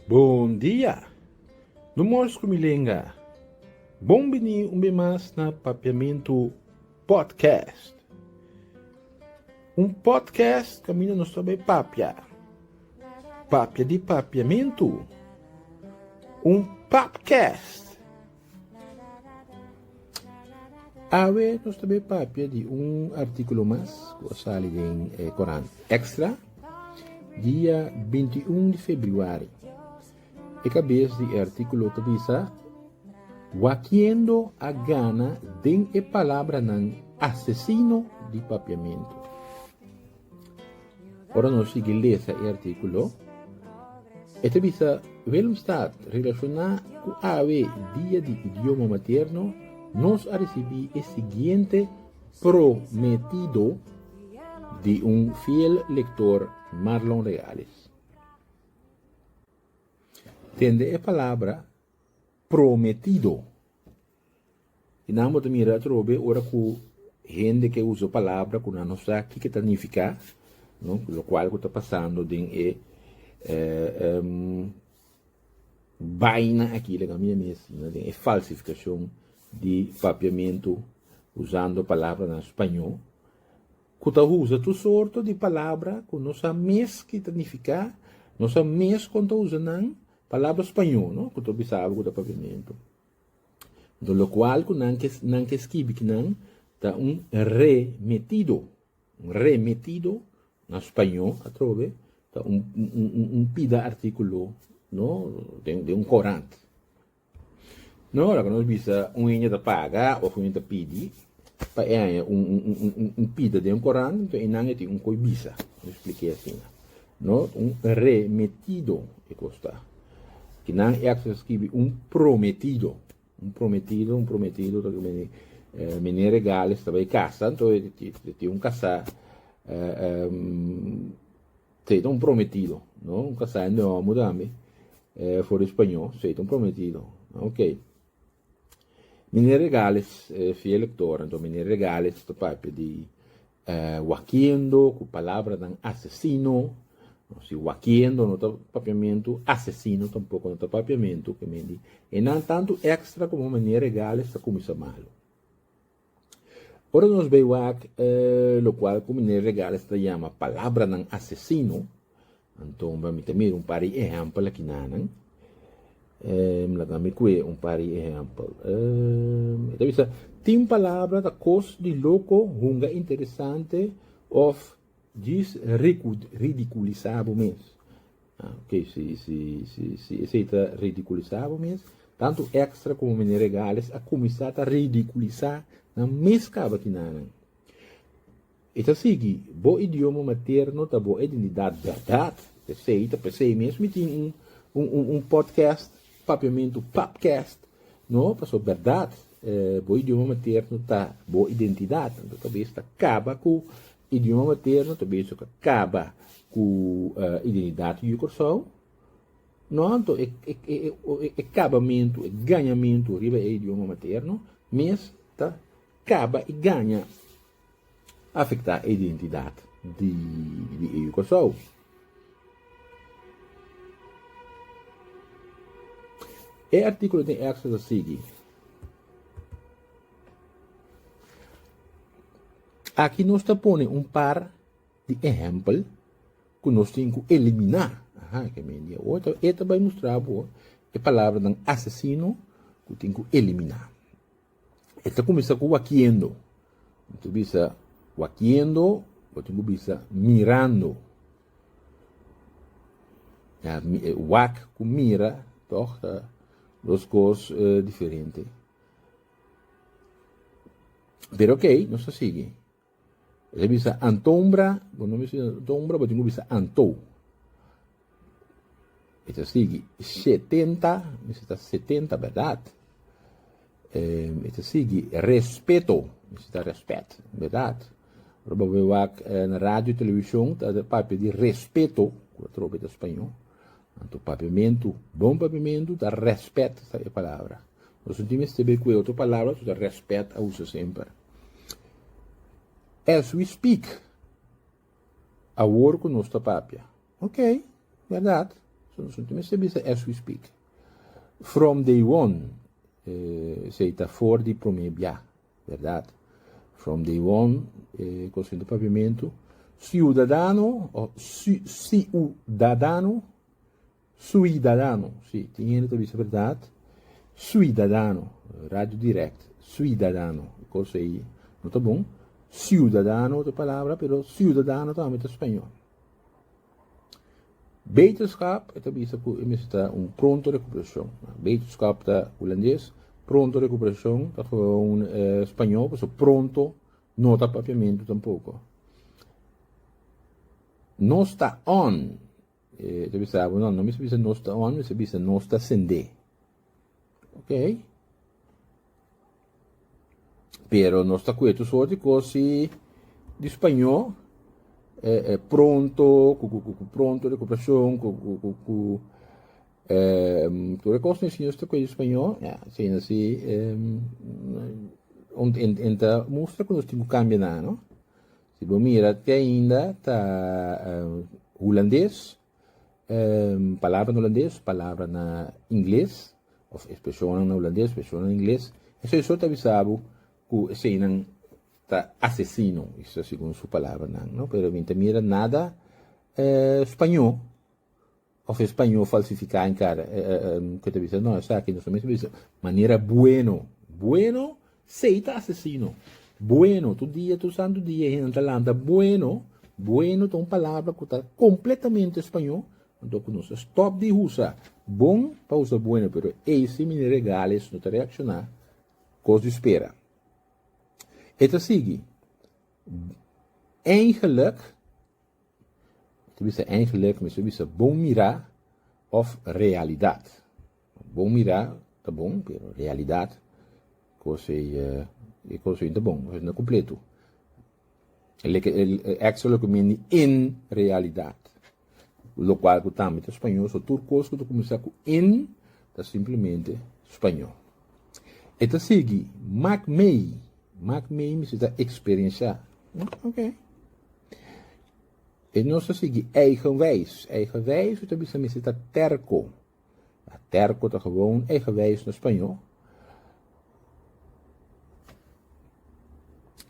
Bon dia! No mors ku mi lenga. Bon bini un be mas na Papiamentu Podcast. Un podcast kaminda nos ta bay papia. Papia di papiamentu. Un papcast. Awe nos ta bay papia di un articulo mas cu a sali den e Coran Extra dia binti un di febrüari. E cabes di e articulo ta bisa, Wakiendo a gana den e palabranan asesino di papiamento. Ora nos sigui lesa e artíkulo, e ta bisa, Willemstad, Relashoná ku awe Dia di Idioma Materno, nos a risibí e siguiente prometido di un fiel lektor, Marlon Reales. Tende e palabra prometido. I nan bo ta mira atrobe ora ku hende ke usa palabra ku nan no sa kiko ta nifiká, no, lokual ku ta pasando den e baina aki den ami mes, den e falsifikashon di papiamentu usando palabranan spañó, ku ta usa tur sorto di palabra ku no sa mes ki ta nifiká, no sa mes kon ta usa nan, palabra spañó, no, ku ta bisa algu ku ta papiamentu. Enton lokual ku nan ke nan ke skibi ku nan ta un remitido, un remitido na spañó atrobe ta un un pida artíkulo no den den un korant. No ora ku nos bisa un hende ta paga òf un hende ta pidi pa e haña un un un pida den un korant, enton e nan e tin un koe bisa, mi splike asina. No, un remetido e kos ta. Kinan ex a skibi un prometido. Un prometido, un prometido ta kimin Mene Regales ta bay kasa, nto e tin un kasá ta e ta un prometido, no, un kasá e nomu tambe for di spañó, so e ta un prometido. Ok. Miner Regales, e fiel lektor, anto miner Regales ta papia di wakiendo ku palabranan asesino, no si wakiendo no ta papiamentu, asesino tampoko no ta papiamentu, ke men di e nan tantu ekstra komo miner Regales ta kuminsa malu. Ora nos bai wak, e lokual ku miner Regales ta yama Palabranan Asesino, anto mi ta mira un par di ehèmpel akinanan. Laga mi kue un par di ehèmpel. E ta bisa, Tin palabra ta kos di loko, hunga interesante of Djis ridiculisá bo mes. Ok, si si esei ta ridiculisá bo mes, tantu Extra como Mene Regales a cuminsá ta ridiculisá nan mes caba ki nanan. E ta sigui, Bo idioma materno ta bo identidad berdad. P'esei ta p'esei mes mi tin un un un un podcast. Papiamentu Pabcast, No, pasobra berdad, bo idioma materno ta bo identidad, anto ta bes ta caba cu idioma materno, ta bes ta caba cu identidad di Curaçao, no, anto e cabamentu, e gañamentu riba e idioma materno mes ta caba y gaña afecta e identidad di e yu Kòrsou. E artíkulo tin èkstra ta sigui. Aki nos ta pone un par di ehèmpel ku nos tin ku eliminá. Aha, ke mi dia oe ta e ta bai mustra bo e palabranan asesino ku tin ku eliminá. E ta kuminsá ku wakiendo. Bo ta bisa wakiendo, bo tin ku bisa mirando. Ya, wak ku mira, tòg ta dos kos diferente. Pero ok, nos ta sigui. E bisa Antombra, bo no bisa Antombra, bo tin ku bisa Antou. E ta sigui shetenta, mester ta setenta bèrdad. E ta sigui respeto, mester ta respèt bèrdad. Ora bo bin wak na radio, televishon ta papia di respeto, ku ta trobe ta spañó. Anto papiamentu, bon papiamentu ta respèt ta e palabra. Nos tin mester be ku e otro palabra, su ta respèt a usa semper. As we speak, awor ku nos ta papia. Ok, verdad. So nos ta mester bisa as we speak. From day one, eh, sei ta for di prome bia, verdad. From day one, eh, Consento Papiamentu, ciudadano, o ciudadano, Suidadano, si, tin hende ta bisa berdad, suidadano, radio direct, suidadano, e kos ei no ta bon, siudadano ta palabra, pero suidadano tambe ta spañol. Beterschap, e ta bisa ku e mester ta un pronto recuperashon, beterschap ta hulandes, pronto recuperashon ta gewoon spañol, pasobra pronto no ta papiamentu tampoko. No sta on, E ta bisa abo, no, no mester bisa nos ta on, mester bisa nos ta sendé. Ok. Pero nos ta kuetu so di kosi di spañó eh, eh, pronto, ku, ku, ku, ku pronto recuperacion, ku, ku, ku, ku eh, tu recos ni siños ta kuetu spañó, ja, sin así, eh, enta mustra ku nos tin ku kambia nan, no? Si bo mira te ainda ta hulandes, palabra na hulandes, palabra na ingles of expresionnan na hulandes, expresionnan na ingles, esei so ta bisa bo ku eseinan ta asesino, esa segun su palabranan, no? Pero mi ta mira nada spañó. Of e spañó falsifiká en kada ku e ta bisa, no, esaki nos ta mester bisa manera bueno. Bueno sei ta asesino. Bueno, tur dia, tur santu dia e hende ta lanta bueno. Bueno ta un palabra ku ta kompletamente spañó, anto ku nos ta stòp di usa bon pa usa bueno, pero ei si Miner Regales no ta reakshoná, kos di spera. E ta sigui, Eindelijk, Te bisa eigenlijk mi su bisa bon mira of realidat. Bon mira ta bon pero realidat kos ei e kos ei no ta bon, kos ei no ta kompletu. Like extra lo ke mindi en realidat. Lokual ku tambe ta spañol so tur kos ku ta kuminsá ku en ta simplemente spañol. E ta sigui, mak mei, mak mei mi si ta eksperiensha. Ok. E nos ta sigui eigenwijs. Eigenwijs ta bisa misi ta terco. A terco ta gewoon eigenwijs na Spañol.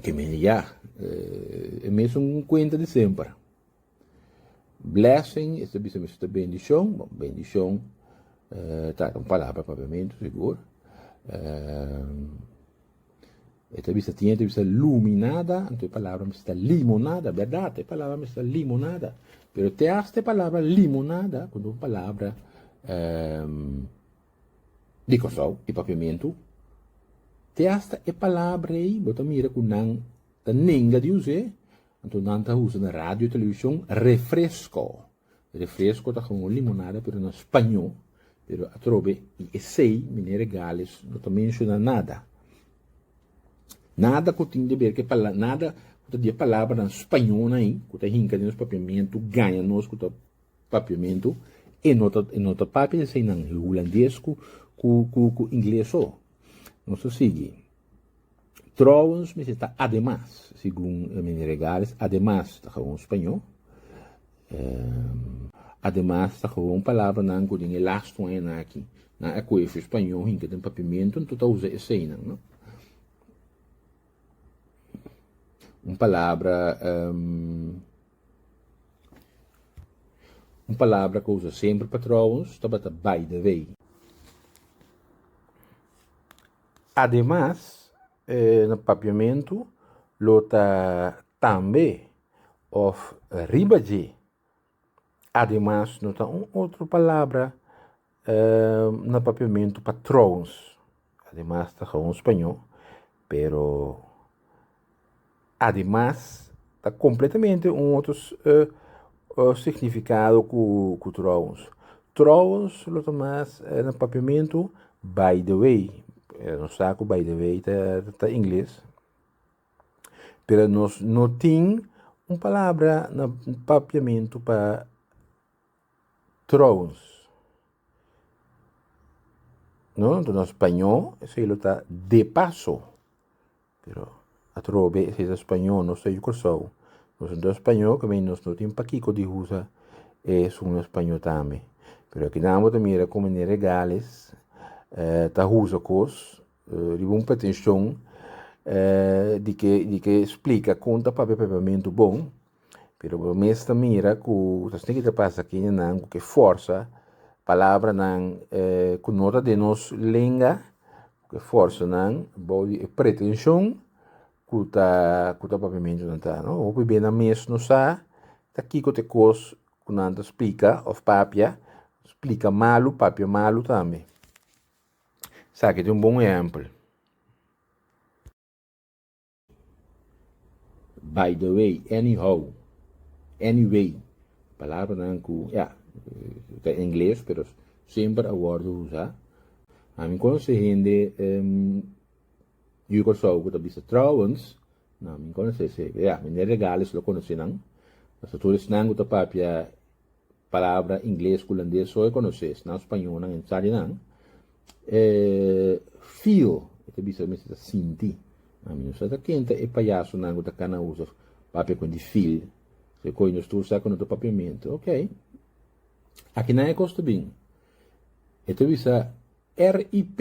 Que men ya, eh, e mes un cuenta de semper. Blessing, e ta bisa misi ta bendición. Bon, bendición eh, ta un palabra papiamento, seguro. Eh, E ta bisa, Tiña ta bisa luminada, anto e palabra mester ta limonada. Berdad, e palabra mester ta limonada. Pero te asta e palabra limonada, ku ta un palabra um, di Kòrsou, di Papiamentu, te asta e palabra ei, bo ta mira ku nan ta nenga di us'é, anto nan ta usa na radio, televishon, refresco. Refresco ta como un limonada pero na spaño, pero atrobe di esey meneer Regales no ta menciona nada, nada cu tin di ber cu e palabra, nada cu ta di e palabranan spañonan ayi cu ta hinca den nos papiamento, gaña nos cu ta papiamento, e no ta e no ta papia di eseynan, e hulandes cu cu ingles so. Nos ta sigui. Trouwens mi si ta ademas, segun e meneer Regales, ademas ta gewoon spañó. Ademas ta gewoon palabranan ku den e las two añanan aki nan a kohe su spañó hinka den papiamentu, anto ta usa eseinan, no? Un palabra un palabra ku a usa semper pa trouwens tabata baidawei. Ademas, e papiamentu lo ta tambe òf riba dje. Ademas no ta un otro palabra na papiamentu pa tròuns. Ademas ta gaun spañó pero. Ademas, ta kompletamente un otro signifikado ku tròuns. Tròuns lo ta mas na papiamentu by the way, nos sa ku by the way ta ingles, pero nos no tin un palabra na papiamentu pa. Trouwens, no lo ta na spañó, esei lo ta de paso. Pero atrobe esei ta spañó, nos ta yu Kòrsou, nos no ta spañó, ka mei nos no tin pa kiko di usa es un spañó tambe. Pero akinan bo ta mira ku Meneer Regales ta usa kos riba un pretenshon di ke di ke splika kon ta papia papiamentu bon, Pero bo mes ta mira ku nos tin kiko pasa kindenan ku ke forsa palabranan ku no ta den nos lenga, ku e forsanan abou di e pretenshon ku ta ku ta papiamentunan ta. No hopi bey nan mes no sa ta kiko ta e kos ku nan ta splika òf papia, splika malu, papia malu tambe. Esaki ta un bon ehèmpel. By the way, anyhow, anyway, palabranan ku, ya, ta ingles, pero semper a wòrdu usá. Ami konosé hende di Kòrsou ku ta bisa trouwens, na mi konosé, ya, mi ne regales lo konosé nan, pasobra tur esnan ku ta papia palabra ingles ku hulandes so e konosé, esnan spañonan e no sa di nan, e feel, e ta bisa mester ta sinti, ami no sa ta ken ta e payasonan ku ta kana usa papia ku di feel, so e kos nos tur sa ku no ta papiamentu, ok, akinan e kos ta bin, e ta bisa RIP.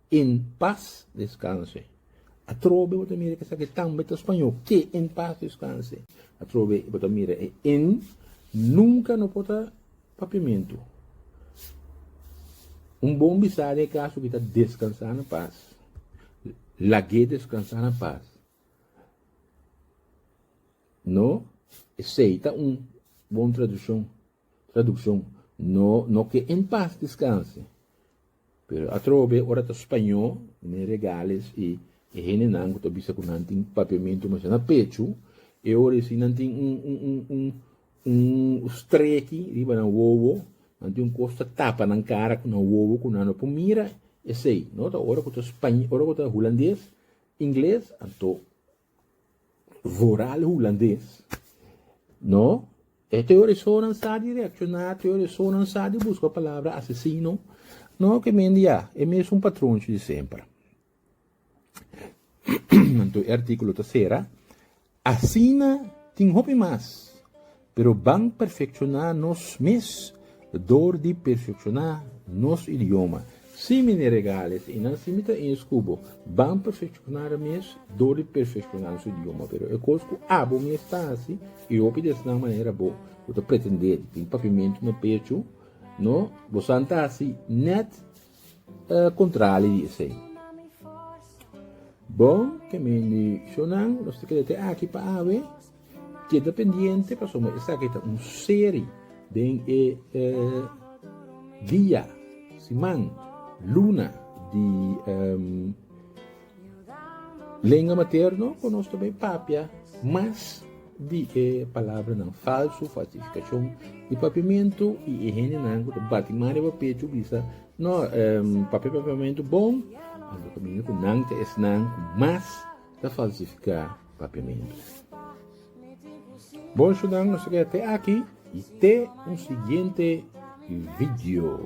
En paz descanse. Atrobe bo ta mira ke esaki tambe ta spañó ke en paz descanse. Atrobe bo ta mira e en nunka no por ta papiamentu. Un bon bisa den e kaso kita deskansa na pas. Lag'é deskansa na pas. No, esei ta un bon tradushon, tradukshon. No, no ke en paz deskanse. Pero atrobe ora ta spañó ne regales i e hendenan ku ta bisa ku nan tin papiamentu masha na pechu, e ora esei nan tin un un un streki riba nan wowo, nan tin un kos ta tapa nan kara ku nan wowo ku nan no por mira esei. No ta ora ku ta ora ku ta hulandes, ingles, anto. voral hulandes no e teorisonan sa di reacciona teorisonan sa di busca palabra asesino no ke men di ya e mesun patronchi di semper Anto e artículo ta cera. Asina tin hopi mas Pero ban perfecciona nos mes door di perfecciona nos idioma. Si mi ne regales y nan si mi ta ins cu bo, ban perfecciona ra mes door di perfecciona nos idioma. Pero e cos cu abo mes ta haci y hopi di esnan manera bo cu ta pretende di tin papimento na pechu, no, bosan ta haci net E kontrali di esei. Bon, ke men di shownan, nos ta keda te aki pa awe. Keda pendiente pasobra esaki ta un seri den e dia, siman, luna di. Lenga materno ku nos ta bay papia mas di e palabranan falsu, falsifikashon i papiamentu i e hendenan ku ta bati man riba pechu bisa no em papia papiamentu bon anto kaminda ku nan ta esnan ku mas ta falsifiká papiamentu. Bon eshunan nos ta keda te aki i te un siguiente video.